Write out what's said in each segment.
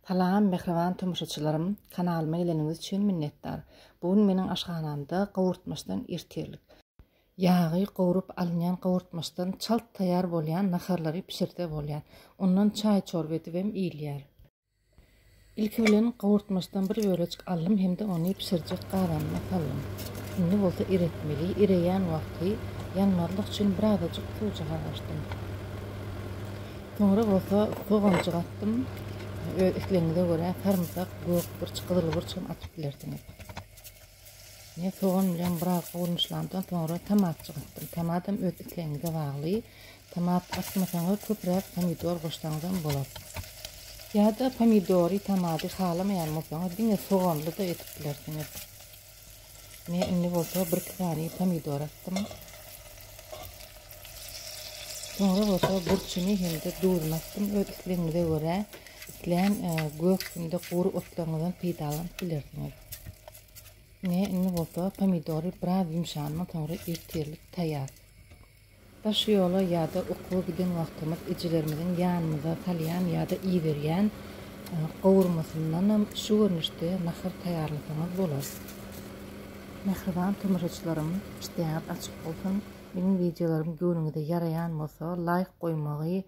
Salam mähriban tomaşaçylarym kanalyma geleniňiz üçin minnetdar bu gün meniň aşhanamda gowurtmaçdan ertirlik ýagy gowrup alynýan gowurtmaçdan çalt taýýar bolýan naharlary bişirse bolýar ondan çaý çorba edibem iýilýär. Ilki bilen gowurtmaçdan bir bölejik aldym hem-de ony bişirjek gazanyma saldym indi bolsa eretmeli ereýän wagty ýanmazlyk üçin birazajyk suwjyga goşdum. Soňra bolsa soganjyk atdym. Öz islegiňize görä sarymsak, gök burç, gyzyl burç hem atyp bilersiňiz. Men sogan bilen biraz gowulanşylandan soňra tomatjyk atdym. Tomatam öz islegiňize bagly. Tomat atmasaňyz köpräk pomidor goşsaňyz hem bolar. Ýa-da pomidory, tomady halamaýan bolsaňyz diňe soganly-da edip bilersiňiz. Men indi bolsa bir sany pomidor atdym. Soňra bolsa burçuny hem-de duzuny atdym. Öz islegiňize görä, islän e, gök hem-de gury otlaryňyzdan peýdalanyp bilersiňiz. Ne indi bolsa pomidory biraz ýumşandan soňra ertirlik taýýar. Daş ýola ýa-da okuwa giden wagtymyz ejelerimiziň ýanymyza salýan ýa-da iberýän gowurmasyndanam şu görnüşde nahar taýýarlasaňyz bolar. Mähriban tomaşaçylarym, işdäňiz açyk bolsun! Meniň wideolarym göwnüňize ýaraýan bolsa, laýk goýmagy,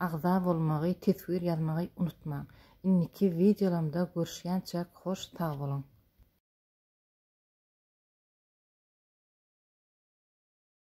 agza bolmagy, teswir ýazmagy unutmaň! Indiki wideolarymda görüşýänçäk hoş sag boluň!